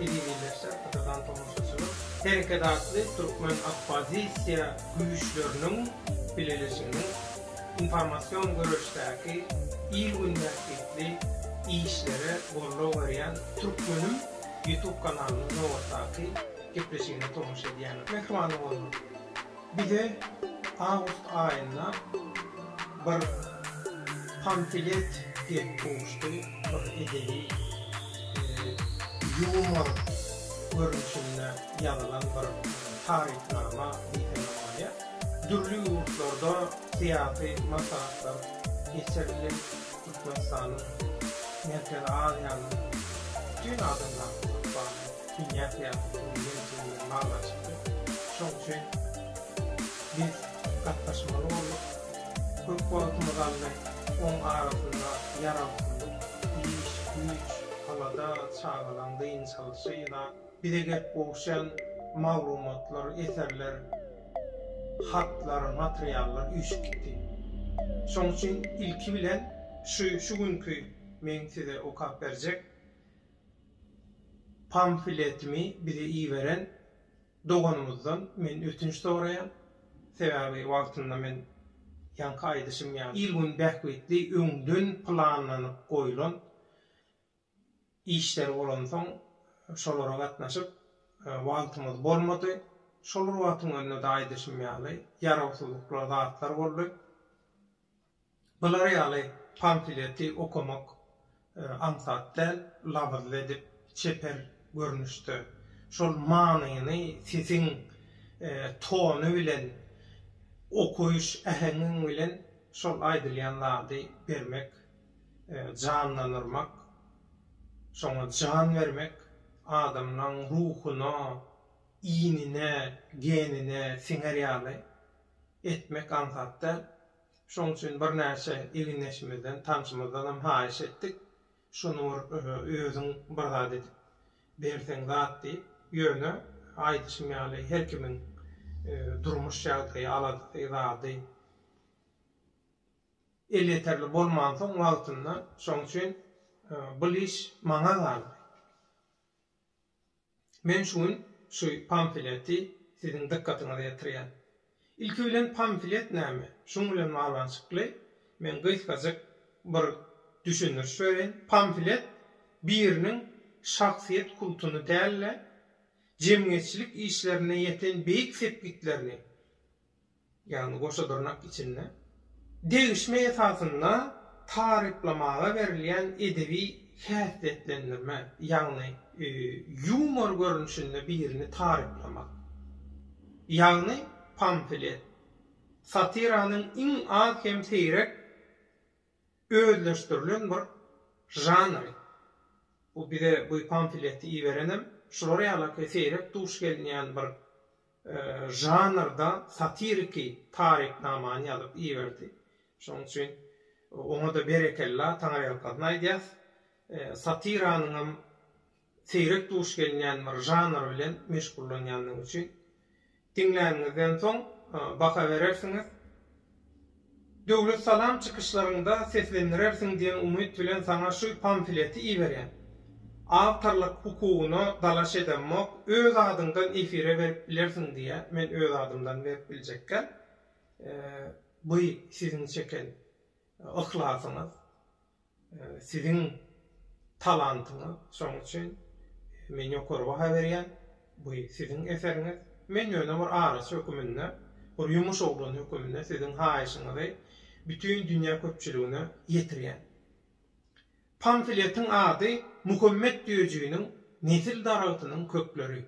Ilmileşen kysadan tomaşaçylar Hereket atly türkmen oppozisiýa güýçleriniň bileleşiginiň informasion göreşdäki il-gün bähbitli işlere goldaw berýän Türkmenim ýutub kanalynyň nobatdaky gepleşigine tomaşa edýärler. Mähribanly bolmaly. Bize awgust aýynda bir pamfilet gelip gowuşdy, bir edebi ýumor görnüşinde ýazylan bir tarypnama diýsem bolýar. Dürli ýurtlarda syýasy maslahatlar geçirildi, Türkmenistanyň, Merkezi Aziýanyň, bütin adamzatlykda Dünýä syýasaty bilen ýene-täzeden baglanyşykly. Şoň üçin biz gatnaşmaly bolduk. Köp wagtymyzy aldy. Oň arasynda ýarawsyzlyk, iş, güýç, alada, çagalaň dynç alşy, ýa-da bize gelip gowuşýan maglumatlar, eserler, hatlar, materiallar üýşüp gitdi. Şoň üçin ilki bilen şu şu günki meň size okap berjek Pamfletimi bize iberen doganymyzdan men ötünç soraýan. Sebäbi wagtynda men ýaňky aýdyşym ýaly il-gün bähbitli öňden planlanyp goýlan işler bolansoň şolara gatnaşyp wagtymyz bolmady. Şol bir wagtyň öňünde-de aýdyşym ýaly ýarawsyzlyklar zatlar boldy. Bular ýaly pamfleti okamak aňsat däl, labyzly edip, çeper görnüşde, şol manyny sesiň tony bilen, okaýyş äheňiň bilen şol aýdylýan zady bermek, janlanyrmak, şoňa jan bermek, adamlaň ruhuna, iýnine, genine siňer ýaly etmek aňsat däl. Şonuň üçin birnäçe ildeşimizden, tanşymyzdanam haýyş etdik, şuny bir özüň bir zat edip berseň zat diýip. Ýöne, aýdyşym ýaly, her kimiň durmuş ýagdaýy, aladasy, zady elýeterli bolmansoň wagtynda, şonuň üçin bul iş maňa galdy. Men şu gün şu pamfleti siziň dykgatyňyza ýetirýän. Ilki bilen pamflet näme? Şuň bilen baglanyşykly men gysgajyk bir düşündiriş bereýin. Pamflet biriniň şahsyýet kultuny däl-de, jemgyýetçilik işlerinde ýeten beýik sepgitlerini, ýagny goşa dyrnak içinde, degişme esasynda taryplamaga berilýän edebi häsiýetlendirme, ýagny ýumor görnüşinde birini taryplamak, ýagny pamflet, satiranyň iň az hem seýrek özleşdirilen bir žanry. Bu bize bu pamfleti iberenem şular ýaly seýrek duş gelinýän bir žanrda satiriki tarypnamany ýazyp iberdi. Şonuň üçin oňa-da berekella, taňaýalkasyn aýdýas. Satiranyňam seýrek duş gelinýän bir žanr bilen meşgullanýandygy üçin. Diňläniňizden soň baha berersiňiz. Döwlet salam çykyşlaryňda seslendirersiň diýen umyt bilen saňa şu pamfleti iberýän. Awtorlyk hukugyna dalaş edemok, öz adyňdan efire berip bilersiň diýýä, men öz adymdan berip biljekkäm. By siziň çeken yhlasyňyz. Siziň talantyňyz, şonuň üçin men ýokary baha berýän. Bu siziň eseriňiz. Men ýöne bir araçy höküminde, bir ýumuş oglany höküminde siziň haýyşyňyzy bütin dünýä köpçüligine ýetirýän. Pamfletiň ady Muhammet Düýejiniň nesil daragtynyň kökleri.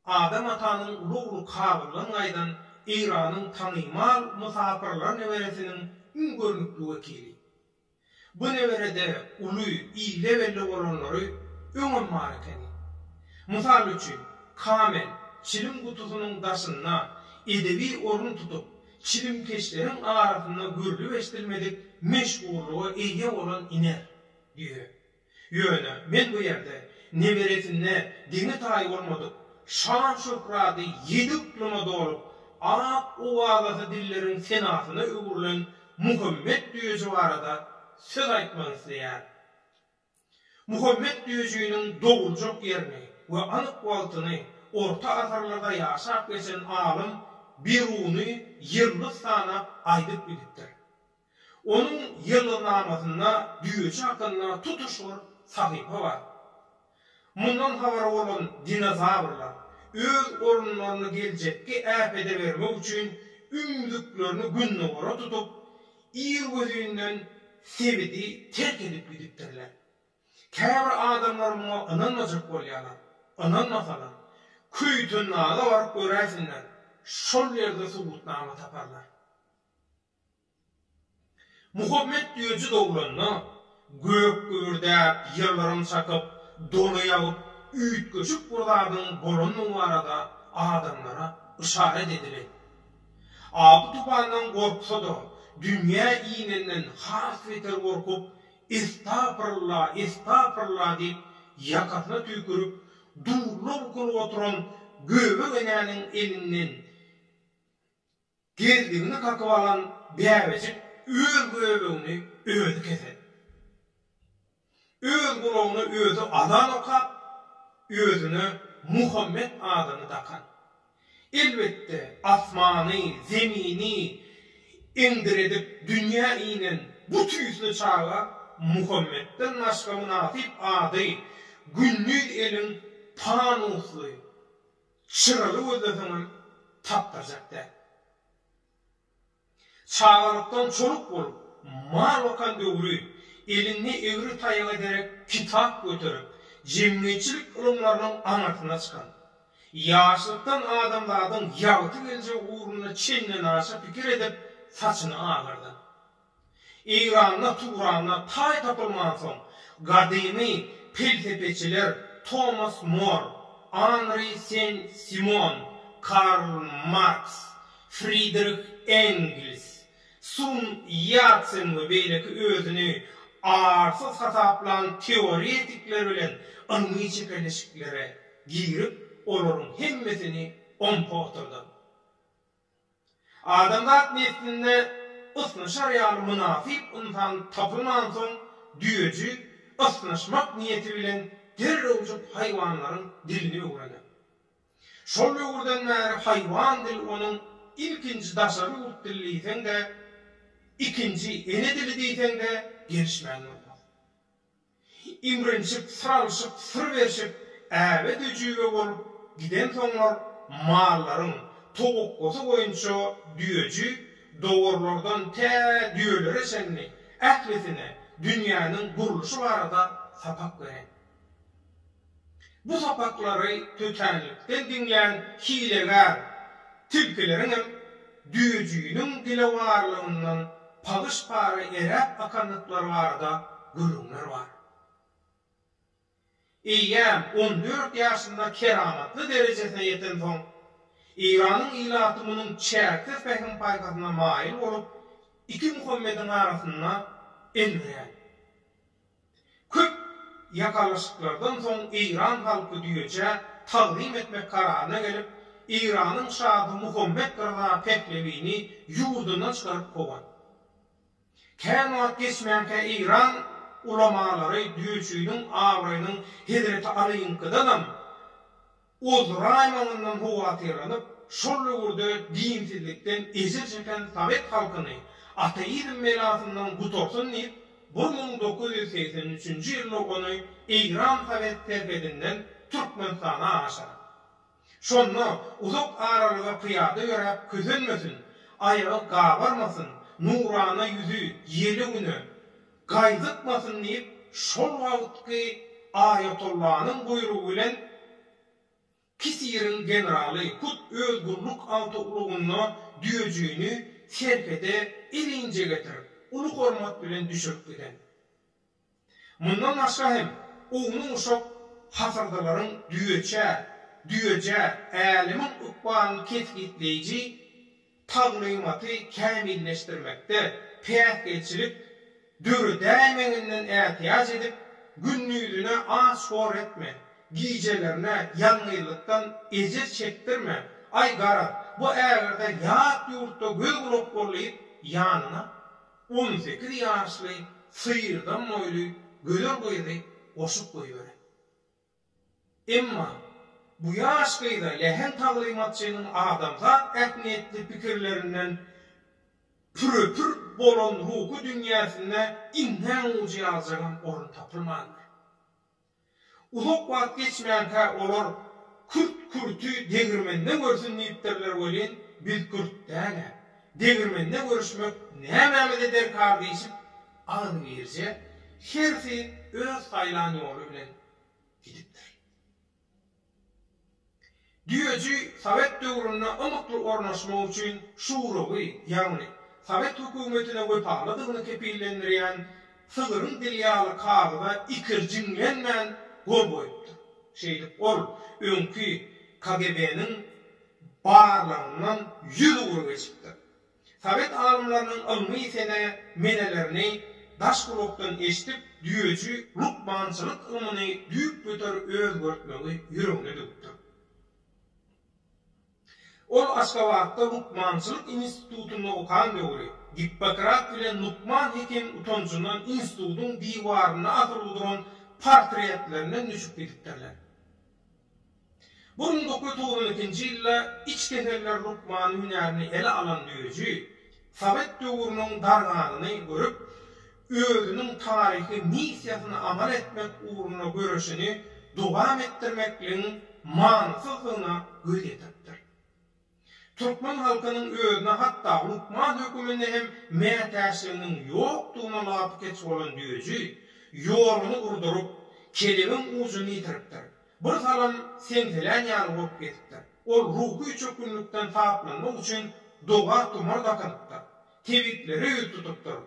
Adam atanyň uly-uly kabyrlan gaýdan Eýranyň tanymal mysapyrlar neberesiniň iň görnükli wekili. Bu neberede uly, ille belli bolanlary öňem bar ekeni. Mysal üçin, Kamel çilim gutusynyň daşynda edebi orun tutup, çilimkeşleriň arasynda görlüp-eşdilmedik meşhurlyga eýe bolan iner, düýe. Ýöne men bu ýerde neberesinde deňi-taýy bolmadyk şan-şöhraty ýedi yklymda dolup, at-owazasy dilleriň senasyna öwrülen Muhammet Döji barada söz aýtmak isleýärin. Muhammet Döjiniň doguljak ýerini we anyk wagtyny orta asyrlarda ýaşap geçen alym Biruny ýyldyz sanap aýdyp gidipdir. Onuň ýygnamasyna düýeçe hakynda tutuş bir sahypa bar. Mundan habary bolan dinozawrlar öz orunlaryny geljekki äpete bermek üçin ümzüklerini gündogara tutup, irgözinden sebidi terk edip gidipdirler. Käbir adamlar muňa ynanmajak bolýarlar. Ynanmasalar, Köýtendaga baryp göräýsinler, şol ýerde subutnama taparlar. Muhammet öýjü dogranda, gök gübürdäp, ýyldyrym çakyp, doly ýagyp, üýtgeşik bir zadyň bolandygy barada adamlara yşarat edilip, apy-tupandan gorksa-da, dünýä inenden has beter gorkup, Estapyrlla, estapyrlla diýip, ýakasyna tüýkürip, dubla bukulyp oturan Göbek enäniň elinden Gezdigini kakyp alan bäbejik öz göbegini özi kesedi. Öz gulagyna özi azan okap, özüne Muhammet adyny dakan. Elbetde, asmany, zemini eňdiredip dünýä inen bu tüýsli çaga Muhammetden başga mynasyp ady Gündiz eliň panusly, Çyraly gözleseňem tapdyrjak däl. Çagalykdan çoluk bolup, mal bakan döwri, elinde egri taýaga derek kitap göterip, jemgyýetçilik ylymlarynyň aňyrsyna çykan, ýaşlykdan adamzadyň ýagty geljegi ugrunda çendenaşa pikir edip, saçyny agardan. Eýranda Turanda taý tapylmansoň, gadymy pelsepeçiler Tomas Mor, Anri Sen-Simon, Karl Marks, Fridrih Engels, Sun Ýatsen we beýleki özüni arsyz hasaplan teoretikler bilen ylmy çekeleşiklere girip, olaryň hemmesini ompa oturdyp, Adamzat neslinde ysnyşar ýaly mynasyp ynsan tapylmansoň, düýeji ysnyşmak niýeti bilen derrewjik haýwanlaryň dilini öwrener. Şol döwürden bäri haýwan dil onuň ilkinji daşary ýurt dili diýseň-de, ikinji ene dili diýseň-de gelişmän durmaz. Imrinşip, syr alyşyp, syr berşip, äbe-düjübe bolup gidensoňlar mallaryň towakgasy boýunça düýeji dowarlardan tä düýelere çenli ählisine dünýäniň gurluşy barada sapak beren. Bu sapaklary tötänlikden diňlän hilegär tilkileriňem düýejiniň dilewarlygyndan pagyş-para eräp akandyklary barada gürrüňler bar. Eýýäm on dört ýaşynda keramatly derejesine ýetensoň, Eýranyň ilaty munuň çäksiz pähim-paýhasyna maýyl bolup, iki Muhammediň arasynda elwirän. Köp ýakalaşyklardan soň eýran halky düýeçä tagzym etmek kararyna gelip, Eýranyň şasy Muhammet Ryza Pehlewini ýurdundan çykaryp kowan. Kän wagt geçmänkä eýran ulamalary düýeçiniň abraýynyň Hezreti Alynyňkydanam, Oz raýonyndan howatyrlanyp, şol döwürde dinsizlikden ejir çeken sowet halkyny ateizm belasyndan gutarsyn diýip, bir müň dokuz ýüz segsen üçünji ýylda ony Eýran sowet serhedinden Türkmenistana aşyryp. Şonda uzak aralyga pyýada ýöräp kösenmesin, aýagy gabarmasyn, nurana ýüzi ýele güne, Gaýdykmasyn diýip, şol wagtky aýatollanyň buýrugy bilen Kisiriň generaly hut öz gulluk awtoulagynda düýejigini serhede elinje getirip, uly hormat bilen düşürip giden. Mundan başga hem, ownuk-uşak hasyrdalaryň düýeçä, düýejä, älemiň ykbalyny kesgitleýji taglymaty kämilleşdirmekde päsgelçilik döredäýmeginden ätiýaç edip, gündizine aç-hor etme, gijelerine ýalňyzlykdan ejir çekdirme, aý, garaz, bu ägirde ýat ýurtda göz-gulak bol diýip, ýanyna on sekiz ýaşly syýrdan boýly gözel gyzy goşup goýbere. Emma, bu ýaş gyza lehim taglymatçynyň adamzat ähmiýetli pikirlerinden pürepür bolan ruhy dünýäsinde iňňän ujy ýaljagam orun tapylmandyr. Uzak wagt geçmänkä olar Kürt kürti degirmende görsün diýipdirler welin, biz kürt däl-ä, degirmende görüşmek nämämize derkar diýşip, Agzybirje hersi öz saýlan ýoly bilen gidipdir. Düýeji sowet döwründe ymykly ornaşmak üçin şurawy, ýagny sowet hökümetine wepalydygyny kepillendirýän sygyryň dili ýaly kagyza ikirjiňlenmän gol goýupdyr. Şeýdip, ol öňki KGB-niň barlagyndan ýüz ugra geçipdir. Sowet alymlarynyň ylmy sene menelerini daş gulakdan eşdip, düýeji lukmançylyk ylmyny düýpgöter özgertmegi ýüregine döküpdir. Ol Aşgabatda lukmançylyk institutynda okan döwri, Gippokrat bilen lukman hekim utanjyndan institutyň diwarynda asylyp oturan portretlerinden düşüp gidipdirler. Bu gün dokuz togsan ikinji ýylda iç keseller lukmany hünärini ele alan düýeji, sowet döwrüniň darganyny görüp, özüniň taryhy missiýasyny amal etmek ugrunda göreşini dowam etdirmekligiň manysyzdygyna göz ýetiripdir. Türkmen halkynyň özüne hatda lukman höküminde hem mätäçliginiň ýokdugyna lapykeç bolan düýeji, ýoluny urduryp, kelebiň ujuny ýitiripdir. Birsalym seňselän ýaly bolup gezipdir. Ol ruhy çökgünlikden saplanmak üçin doga-tumar dakynypdyr. Tebiplere ýüz tutupdyr.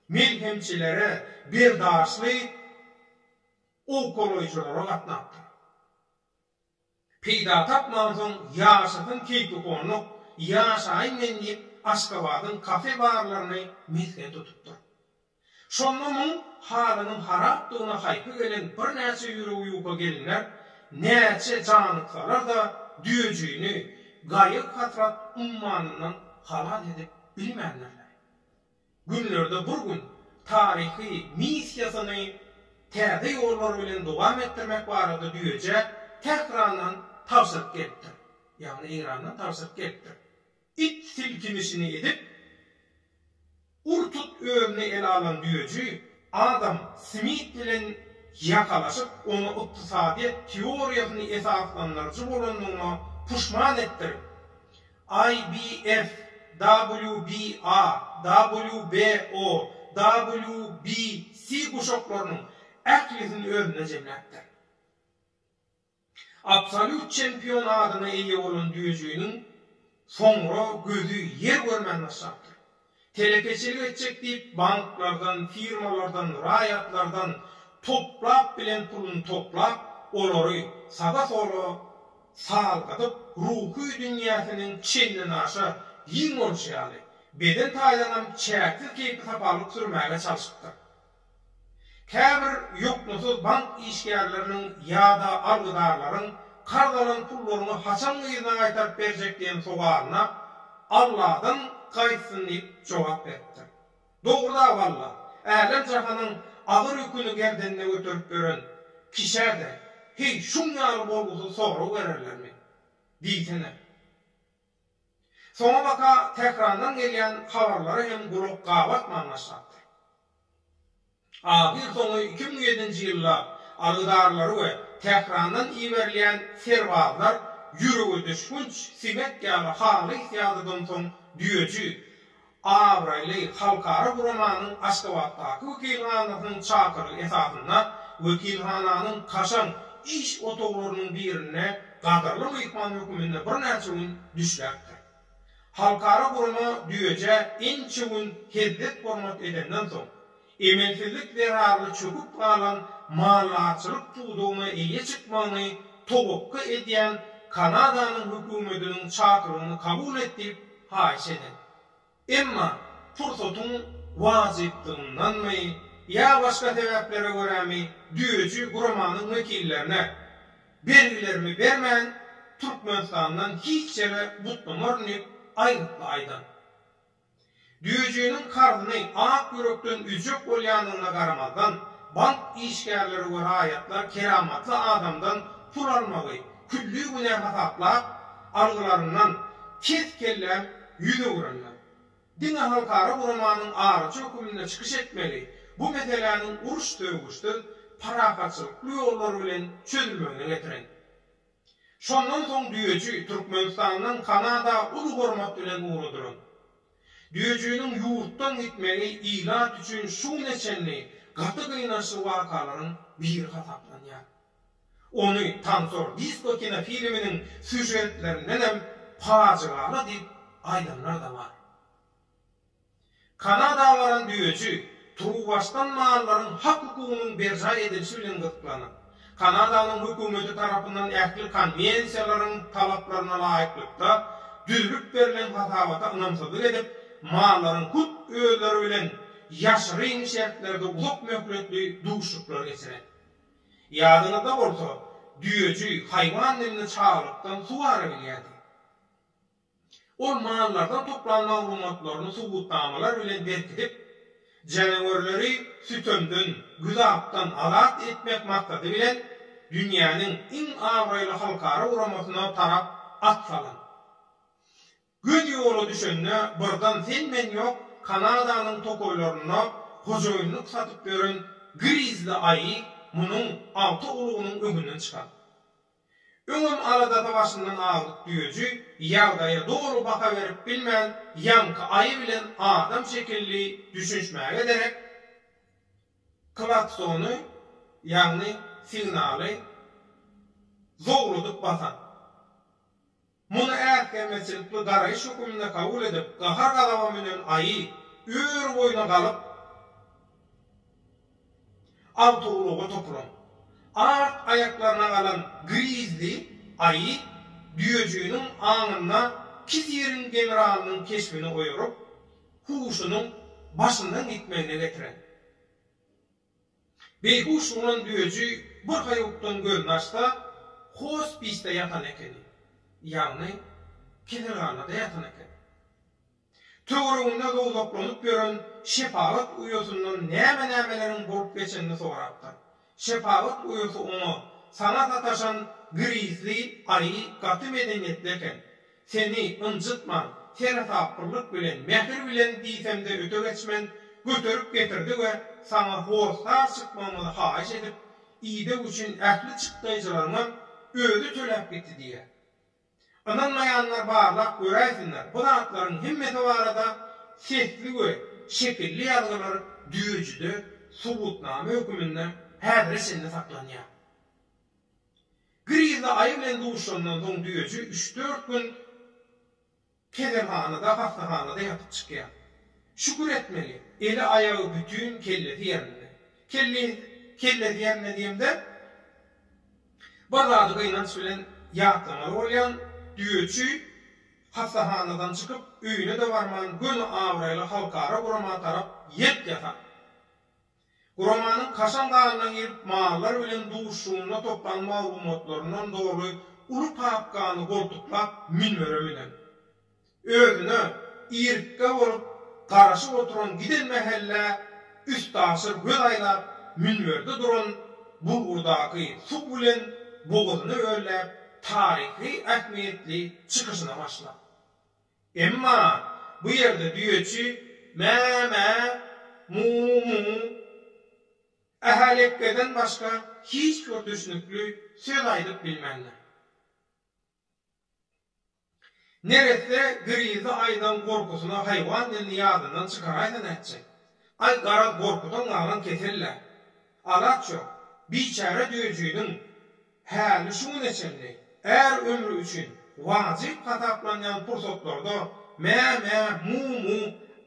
Melhemçilere, berdaşly owkalaýjylara gatnapdyr. Peýda tapmansoň ýaşasyn keýpi onluk, ýaşaýyn men diýip Aşgabadyň kafe barlaryny mesgen tutupdyr. Şonda muň halynyň harapdygyna haýpy gelen birnäçe ýüregi ýuka gelinler näçe janyksalar-da düýejigini gaýyg-hasrat ummanyndan halas edip bilmändirler. günlerde bir gün taryhy missiýasyny täze ýollar bilen dowam etdirmek barada düýeje Tährandan tabşyryk gelipdir, ýagny Eýrandan tabşyryk gelipdir. It silkinişini edip, ur-tut özüne ele alan düýeji, Adam Smit bilen ýakalaşyp oňa ykdysadyýet teoriýasyny esaslandyryjy bolandygyna puşman etdirip, IBF, WBA, WBO, WBC guşaklarynyň ählisini özünde jemläpdir. Absolýut çempion adyna eýe bolan düýejiniň soňra gözi ýer görmän başlapdyr. Telekeçilik etjek diýip banklardan, firmalardan, raýatlardan toplap bilen puluny toplap, olary saga-sola salgydyp, ruhy dünýäsiniň çendenaşa giň bolşy ýaly, beden taýdanam çäksiz keýpi-sapalyk sürmäge çalşypdyr. Käbir ýoklusyz bank işgärleriniň ýa-da algydarlaryň karz alan pullaryňy haçan yzyna gaýtaryp berjek diýen sowalyna Alladan gaýtsyn diýip jogap beripdir. Dogruda-o Alla, älem-jahanyň agyr ýüküni gerdenine göterip ýören kişä-de, heý, şuň ýaly bolgusyz sorag bererlermi? Diýsene. Soňabaka Tährandan gelýän habarlara hem gulak gabartman başlapdyr. Ahyrsoňy iki müň ýedinji ýylda algydarlary we Tährandan iberilýän serbazlar ýüregedüşgünç siňek ýaly halys ýadadamsoň düýeji Abraýly halkara guramanyň Aşgabatdaky wekilhanasynyň çakyrygy esasynda wekilhananyň kaşaň iş otaglarynyň birinde gadyrly myhman höküminde birnäçe gün düşläpdir. Halkara gurama Düýeje ençe gün hezzet-hormat edenden soň, emelsizlik zerarly çöküp galan maldarçylyk pudagyna eýe çykmagyny towakga edýän Kanadanyň hökümetiniň çakyrygyny kabul et diýip haýyş edin. Emma pursatyň wajypdygyndanmy ýa başga sebäplere görämi düýeçi guramanyň wekillerine bergilerimi bermän Türkmenistandan hiç ýere gutlamaryn diýip aýgytly aýdan. Düýejiniň karzyny ak ýürekden ödjek bolýandygyna garamazdan, bank işgärleri we raýatlar keramatly adamdan pul almagy külli günä hasaplap, algylaryndan kes-kelläm ýüz öwürenler. Diňe halkara guramanyň araçy höküminde çykyş etmegi bu meseläniň uruş-sögüşsiz, parahatçylykly ýollar bilen çözülmegine getiren. Şondan soň düýeji Türkmenistandan Kanada uly hormat bilen ugradylan. Düýejiniň ýurtdan gitmegi ilat üçin şu güne çenli gaty gynançly wakalaryň biri hasaplanýar. Ony Tansor disko kinofilminiň sýužetlerindenem pajygaly diýip aýdanlar-da bar. Kanada baran düýeçi turuwbaşdan mallaryň hak-hukugynyň berjaý edilişi bilen gyzyklanýar. Kanadanyň hökümeti tarapyndan ähli konwensiýalaryň talaplaryna laýyklykda düzülip berlen hasabata ynamsyzlyk edip, mallaryň hut özleri bilen ýaşyryn şertlerde uzak möhletli duşuşyklar geçiren. Ýadyňyzda bolsa, düýeçi haýwan dilini çagalykdan suwara bilýärdi. Ol mallardan toplan maglumatlaryny subutnamalar bilen berkidip, janawerleri sütemden, güzapdan azat etmek maksady bilen dünýäniň iň abraýly halkara guramasyna tarap at salan. Göz ýola düşende birdan sen-men ýok Kanadanyň tokaýlarynda hojaýynlyk satyp ýören grizli aýy munuň alty ulugynyň öňünden çykan. Öňem aladasy başyndan azyk düýeji ýagdaýa doly baha berip bilmän, ýaňky aýy bilen adam şekilli düşünişmäge derek, klaksony, ýagny signaly zowladyp basan. Muny äsgermezçilikli garaýyş höküminde kabul edip, gahar-gazabam bilen Aýy ör boýuna galyp, awtoulaga toplaň. Art aýaklaryna galan Grizli Aýy düýejiginiň aňynda Kiziriň generalynyň keşbini oýaryp, huşunyň başyndan gitmegine getiren. Beýhuş bolan öji bir haýukdan gözüni açsa, hospisde ýatan ekeni, ýagny keselhanada ýatan eken. Töwereginde zowzaklanyp ýören şepagat uýasyndan näme-nämeleriň bolup geçenini sorapdyr. Şepagat uýasy oňa, Saňa sataşan girizli aýy gaty medeniýetli eken. Seni ynjytman, seresaplylyk bilen, mähir bilen diýsemde öte geçmen, göterip getirdi we saňa hossar çykmagymyzy haýyş edip, ideg üçin ähli çykdaýjylaryňam özi töläp gitdi diýýär. Ynanmaýanlar barlap göräýsinler, bu zatlaryň hemmesi barada sesli we şekilli ýazgylar düýejide subutnama höküminde häzire çenli saklanýar. Grizli aýy bilen duşandan soň düýeji üç-dört gün keselhanada, hassahanada ýatyp çykýar. Şükür etmeli, eli, aýagy bütin, kellesi ýerinde. Kelle, kellesi ýerinde diýemde, bir zady gynanç bilen ýatlamaly bolýan, düýeçi hassahanadan çykyp, öýüne-de barman, göni abraýly halkara gurama tarap ýelk ýasan. Guramanyň kaşaň galyna girip mallar bilen duşuşygynda toplan maglumatlaryndan doly uly papkany goltuklap minbere münen. Özüne irikgä bolup garaşyp oturan giden mähellä üstaşyr göz aýlap minberde duran bulgurdaky suw bilen bogazyny ölläp taryhy ähmiýetli çykyşyna başlap. Emma bu ýerde düýeçi mä-mä, mu-mu, ähä-lekgeden başga hiç bir düşnükli söz aýdyp bilmändir. Neresse grizli aýdan gorkusyna haýwan dilini ýadyndan çykaraýsa nätjek? Aý, garaz, gorkudan galan kesel-dä. Alaç ýok. Biçäre düýejiniň Häli şu güne çenli är ömri üçin wajyp hasaplanýan pursatlarda mä-mä, mu-mu,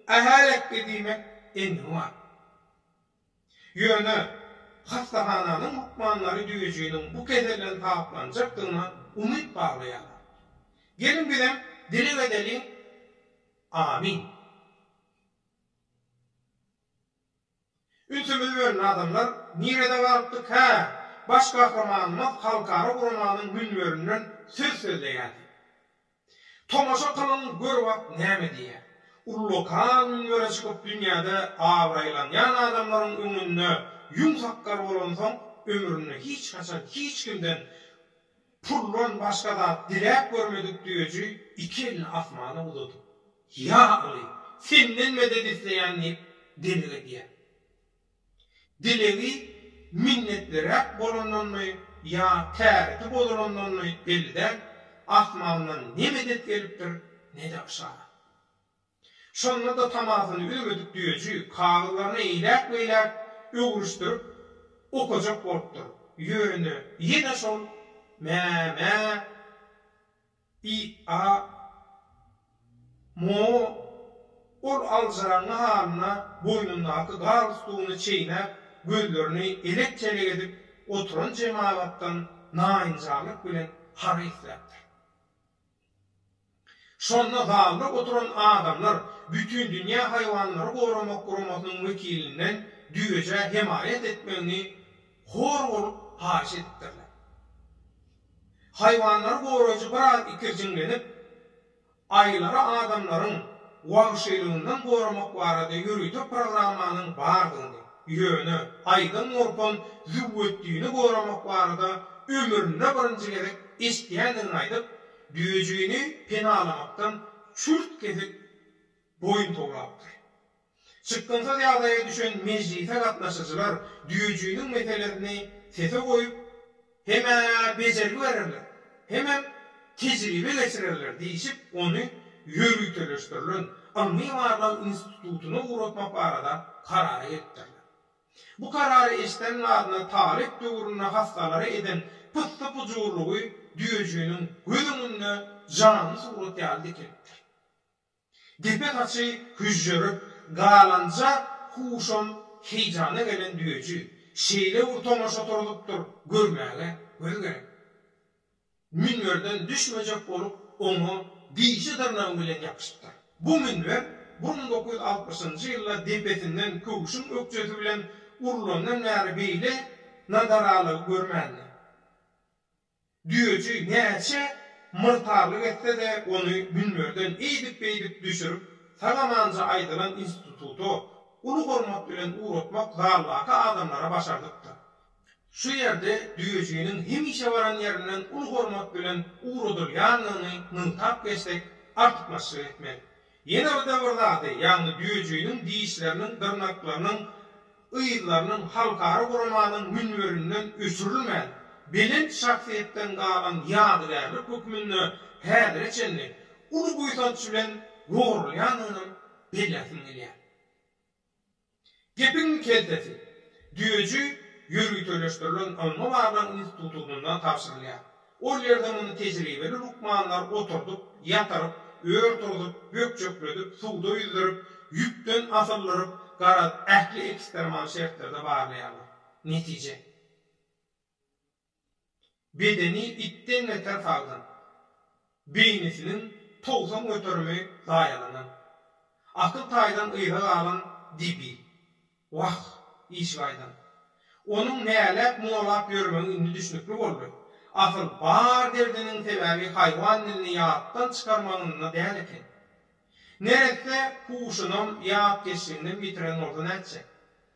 ähä-lekge diýmek endigi bar. Ýöne hassahananyň lukmanlary düýejiniň bu keselden saplanjakdygyna umyt baglaýarlar. Geliň bizem dileg edeliň, Amin! Ünsümi böldi adamlar nirede galypdyk hä baş gahrymanymyz halkara guramanyň münberinden söz sözleýärdi. Tomaşa kylyň gör wagt näme diýýär. Ullukar münbere çykyp dünýäde abraýlanýan adamlaryň öňünde ýüň sakgal bolansoň ömründe hiç haçan hiç kimden Puldan başga zat diläp görmedik düýeji iki elini asmana uzadyp, Ýa Aly, Senden medet isleýän diýip dileg edýär. Dilegi minnetliräk bolandanmy ýa täreti bozulandanmy belli däl, asmandan ne medet gelipdir, ne-de yşarat. Şonda-da tamasyny üzmedik düýeçi kagyzlaryny eýläk-beýläk öwrüşdirip okajak bolupdyr, ýöne ýene şol mä-mä, i-a, mo, ol aljyraňňy halyna boýnundaky galstugyny çeýnäp, gözlerini elek-telek edip oturan jemagatdan naýynjarlyk bilen para isläpdir. Şonda zalda oturan adamlar Bütindünýä haýwanlary goramak guramasynyň wekilinden düýejä hemaýat etmegini hor bolup haýyş edipdirler. Haýwanlary goraýjy biraz ikirjiňlenip, aýylary adamlaryň wagşylygyndan goramak barada ýörite programmanyň bardygyny, Ýöne Aýdyň Nurpon Züwwetdini goramak barada ömründe birinji gezek eşidýändigini aýdyp, Düýejigini penalamakdan çürt-kesik boýun towlapdyr. Çykgynsyz ýagdaýa düşen mejlise gatnaşyjylar Düýejiginiň meselesini sese goýup, Hem-ä bejergi bererler, hemem tejribe geçirerler diýşip, ony ýöriteleşdirilen ylmy-barlag institutyna ugratmak barada karara gelipdirler. Bu karary eşden ladyna talyp döwründe hassalara eden pyssy-pyjurlygy düýejiginiň göz öňünde janly surat ýaly dikeldipdir. Depe saçy hüžžerip galanja huşam heýjana gelen düýeji şeýle bir tomaşa turzup-tur görmäge göz gerek. Münberden düşmejek bolup oňa dişi-dyrnagy bilen ýapyşypdyr. Bu münber bir müň dokuz ýüz altmyşynjy ýylda depesinden köwşüň ökjesi bilen urlandan bäri beýle nadaralygy görmändi. Düýeçi näçe myrtarlyk etse-de, ony münberden eýdip-beýdip düşürip, sag-amanja aýdylan instituta uly hormat bilen ugratmak zaldaky adamlara başardypdyr. Şu ýerde düýejiniň hemişe baran ýerinden uly hormat bilen ugradylýandygyny nygtap geçsek, artykmaçlyk etmez. Ýene bir-de bir zady, ýagny düýejiginiň dişleriniň, dyrnaklarynyň, yzlarynyň halkara guramanyň münberinden öçürilmän, belent şahsyýetden galan ýadygärlik hökmünde häzire çenli uly buýsanç bilen goralýandygyny belläsim gelýär. Gepiň keltesi, düýeji ýörüteleşdirilen ylmy-barlag institutyndan tabşyrylýar. Ol ýerde muny tejribeli lukmanlar oturdyp, ýatyryp, ör turzup, bökjekledip, suwda ýüzdürip, ýüpden asyldyryp, garaz, ähli ekstremal şertlerde barlaýarlar. Netije. bedeni itden beter sagdyn, beýnisiniň togsan göterimi zaýalanan, akyl taýdan yza galan Dibi, wah, işigaýdan. Onuň näläp, muňalap ýörmegi indi düşnükli boldy. Asyl, bar derdiniň sebäbi haýwan dilini ýatdan çykarmagynda däl eken. Neresse huşunam, ýatkeşliginem ýitiren bolsa nätjek?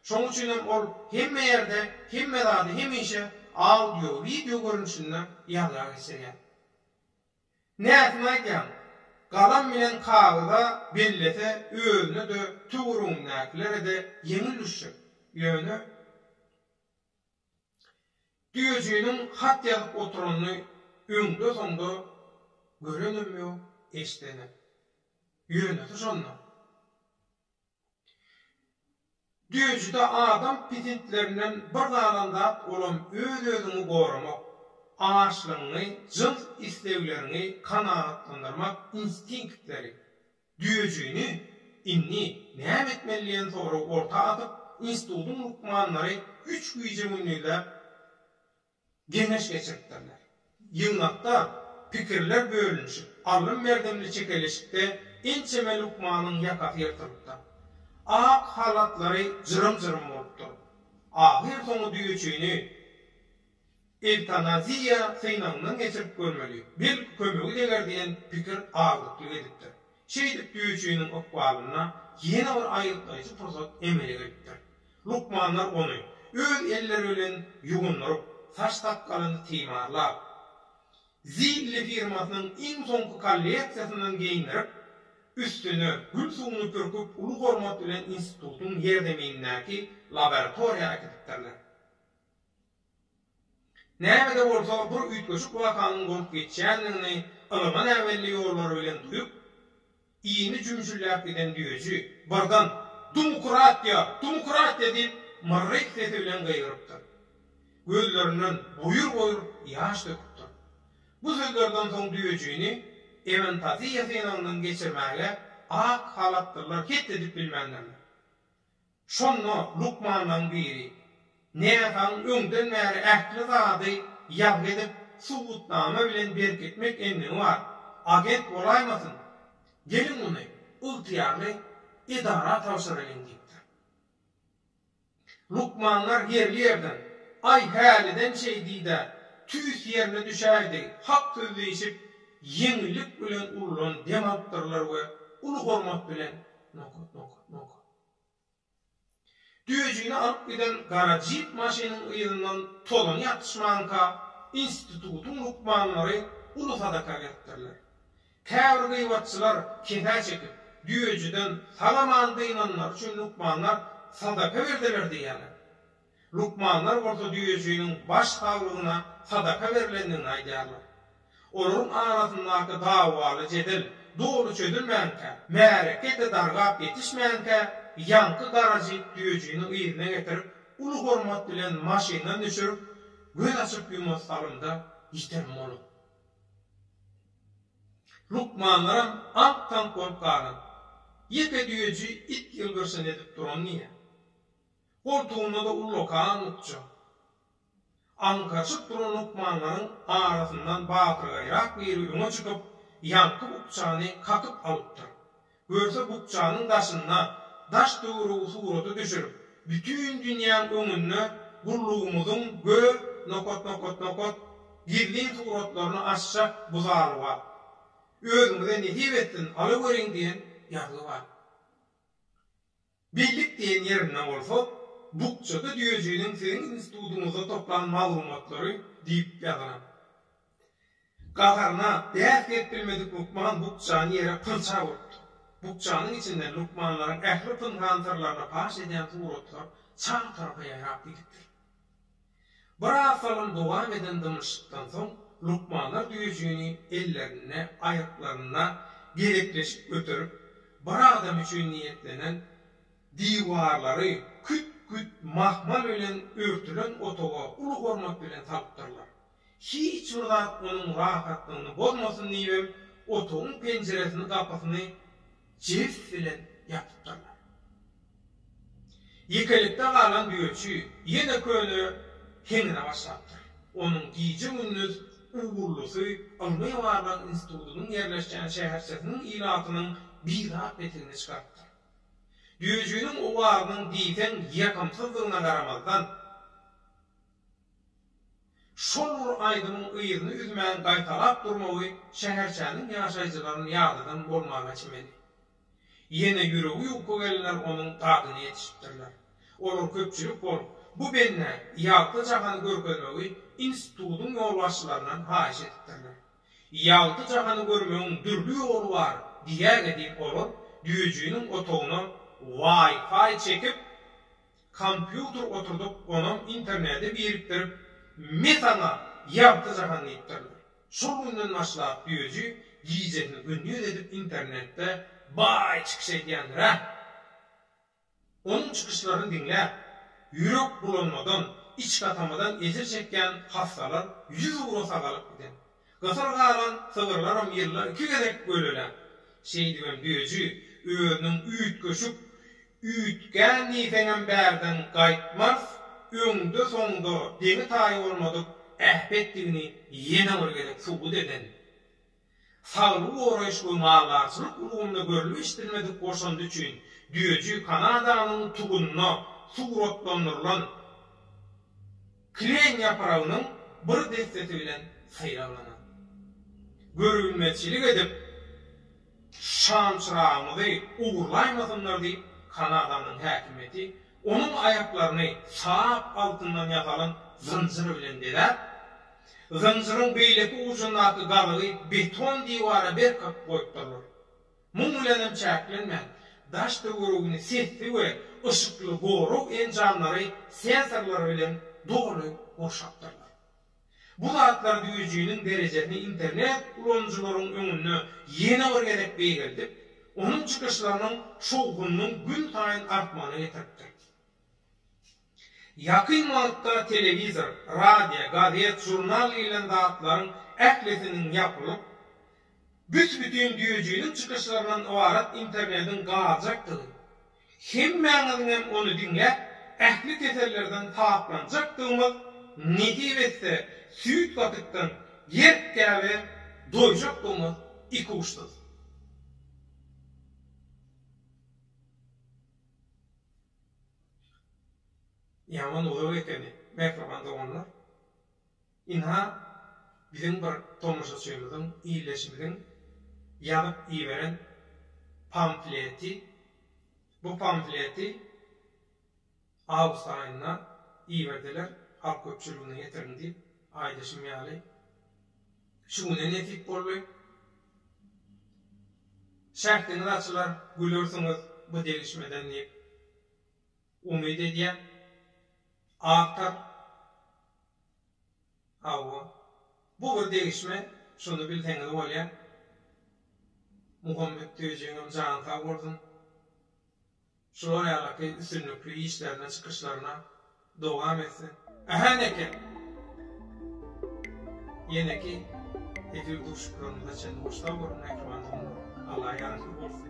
Şonuň üçinem ol hemme ýerde hemme zady hemişe audio, wideo görnüşinde ýazga geçirýär. Näsini aýdýaň, galam bilen kagyza bellese özüne-de, töweregindäkilere-de ýeňil düşjek. Ýöne. Düýejiniň hat ýazyp oturanyny öňde-soňda görenem ýok, eşdenem. Ýöneşi şonda. Düýejide adam pitintlerinden bir galan zat olam öz-özüňi goramak, açlygyňy, jyns islegleriňi kanagatlandyrmak instinktleri. Düýejigini indi näme etmeli diýen soragy orta atyp, institutyň lukmanlary üç gije-gündizläp geňeş geçiripdirler. Ýygnakda pikirler bölünişip, allym-berdimli çekeleşikde ençeme lukmanyň ýakasy ýyrtylypdyr. Ak halatlary jyrym-jyrym bolupdyr. Ahyrsoňy düýeçigini Ewtanaziýa synagyndan geçirip görmeli, belki kömegi deger diýen pikir agdyklyk edipdir. Şeýdip düýeçiniň ykbalynda ýene bir aýgytlaýjy pursat emele gelipdir. Lukmanlar ony öz elleri bilen ýugundyryp, saç-sakgalyny timarlap, Zilli firmasynyň iň soňky kolleksiýasyndan geýindirip, üstüne gül suwuny pürküp uly hormat bilen institutyň ýerzeminindäki laboratoriýa äkidipdirler. Näme-de bolsa bir üýtgeşik wakanyň bolup geçýändigini ylgyn-äwelli ýollary bilen duýup, ini jümşülläp giden düýeji, birden, Dumkratiýa! Dumkratiýa! diýip, myrryk sesi bilen gygyrypdyr. Gözlerinden boýur-boýur ýaş döküpdir. Bu sözlerden soň düýejini emantaziýa synagyndan geçirmäge ak halatlylar het edip bilmändirler. Şonda lukmanlaryň biri, Näsagyň öňden bäri ähli zady ýazgy edip, subutnama bilen berkitmek endigi bar. Agent bolaýmasyn? Geliň muny ygtyýarly edara tabşyralyň diýipdir. Lukmanlar ýerli ýerden, Aý, häliden şeý diý-dä, tüýs ýerine düşäýdi, hak söz diýşip, ýeňillik bilen ululan dem alypdyrlar we uly hormat bilen, Nokat, nokat, nokat. Döjüni alyp giden gara jip maşynyň yzyndan tozan ýatyşmanka, institutyň lukmanlary uly sadaka beripdirler. Käbir gyýbatçylar kesä çekip, döjüden sag-aman dynanlary üçin lukmanlar sadaka berdiler diýýärler. Lukmanlar bolsa düýejiginiň baş saglygyna sadaka berlendigini aýdýarlar. Olaryň arasyndaky dawaly jedel doly çözülmänkä, märeke-de dargap ýetişmänkä, ýaňky garajyk düýejini yzyna getirip, uly hormat bilen maşyndan düşürip, göz açyp-ýumas salymda ýitirim bolup. Lukmanlaram aňk-taňk bolup galan. Ýeke düýeji it ýylgyrşyny edip duran diýýär. Goltugynda-da ullakan ukja. Aňkaçyp duran lukmanlaryň arasyndan batyrgaýrak biri öňe çykyp, ýaňky ukjany kakyp alypdyr. Görse, bukjanyň daşynda daş töweregi surata düşürip, bütin dünýäň öňünde gullugymyzyň gö nokatnokatnokat gizlin suratlaryny asjak bu zalyba, Özüňize nesip etsin, alaweriň diýen ýazgy bar. Bellik diýen ýerinde bolsa, bukjada düýejiniň siziň institutyňyzda toplan maglumatlary diýip ýazanok. Gaharyna, bäs-gep bilmedik lukman bukjany ýere pyrçak urupdyr. Bukjanyň içinden lukmanlaryň ähli pynhan syrlaryny paş edýän suratlar çar tarapa ýaýrap gidipdir. Biraz zaman dowam eden dymyşykdan soň, lukmanlar düýejigini ellerinde, aýaklarynda gerekleşik göterip, bir adam üçin niýetlenen diwarlary küt-küt mahmal bilen örtülen otaga uly hormat bilen salypdyrlar. Hiç bir zat onuň rahatlygyny bozmasyn diýibem, otagyň penjiresini-gapysyny jebis bilen ýapypdyrlar. Ýekelikde galan düýeçi ýene köne heňine başlapdyr. Onuň gije-gündiz ugurlusy ylmy-barlag institutynyň ýerleşýän şäherçesiniň ilatynyň bizat petigini çykarypdyr. Düýejiniň owazynyň diýseň ýakymsyzdygyna garamazdan, Şol bir aýdymyň yzyny üzmän gaýtalap durmagy şäherçäniň ýaşaýjylaryny ýadadan bolmaga çemeli. Ýene ýüregi ýuka gelenler onuň dadyna ýetişipdirler. Olar köpçülik bolup, bu bendä Ýalta jahany görkezmegi institutyň ýolbaşçylaryndan haýyş edipdirler. Ýalta jahany görmegiň dürli ýoly bar diýäge diýip olar düýejiniň otagyna Wi-Fi çekip, Kompýuter oturdyp onam internete birikdirip me saňa ýagty jahan diýipdirler. Şol günden başlap düýeji gijesini gündiz edip internetde baý çykyş edýändir ä. Onuň çykyşlaryny diňläp ýürek bulanmadan, içgatamadan ejir çekýän hassalar ýüz ugra sagalyp giden. Gysyr galan sygyrlaram ýylda iki gezek göleläp, şeýdibem düýeji özüniň üýtgeşik üýtgän diýseňem bärden gaýtmaz, öňde-soňda deňi-taýy bolmadyk äpetdigini ýene bir gezek subut eden, saglygy goraýyş we maldarçylyk ulgamynda görlüp-eşidilmedik goşandy üçin düýeji Kanadanyň tugunda suratlandyrylan, Kleýin ýapragynyň bir dessesi bilen saýraglanyň. Görübilmezçilik edip, şamçyragymyzy ogurlaýmasynlar diýip, Kanadanyň häkimiýeti onuň aýaklaryny sap altyndan ýasalan zynjyr bilen bezäp, zynjyryň beýleki ujundaky gazygy beton diwara berkap goýupdyrlar. Muň bilen hem çäklenmän, daş-töweregini sesli we yşykly goraw enjamlary, sensorlar, bilen doly gurşapdyrlar. Bu zatlar düwüjiniň derejesini internet ulanyjylaryň öňünde ýene bir gezek beýgeldip, onuň çykyşlarynyň şowhunynyň günsaýyn artmagyna getiripdir. Ýakyn wagtda telewizor, radio, gazet, žurnal diýlen zatlaryň ählisiniň ýapylyp, büs-bütin düýejiniň çykyşlaryndan ybarat internediň galjakdygy, hemmäňiziňem ony diňläp, ähli kesellerden saplanjakdygymyz, nesip etse, süýt-gatykdan ýerkgäbe doýjakdygymyz ikuçsyz. Ýaman uzak ekeni mähriban doganlar. Ynha biziň bir tomaşaçymyzyň, ildeşimiziň ýazyp iberen pamfleti. Bu pamfleti awgust aýynda iberdiler, halk köpçüligine ýetiriň diýip, aýdyşym ýaly. Şu güne nesip boldy. Şähdiňiz açylar, gülersiňiz bu degişmeden diýip umyt edýän. Awtor, Hawa. Bu bir degişme, şuny bilseňiz bolýar. Muhammet Tüýejigiňem jany sag bolsun. Şular ýalyky üstünlikli işlerine çykyşlaryna dowam etsin. Ähä neke! Ýeneki efir duşuşyklarymyza çenli hoşsag boluň mähriban doganlar! Alla ýaragly bolsun!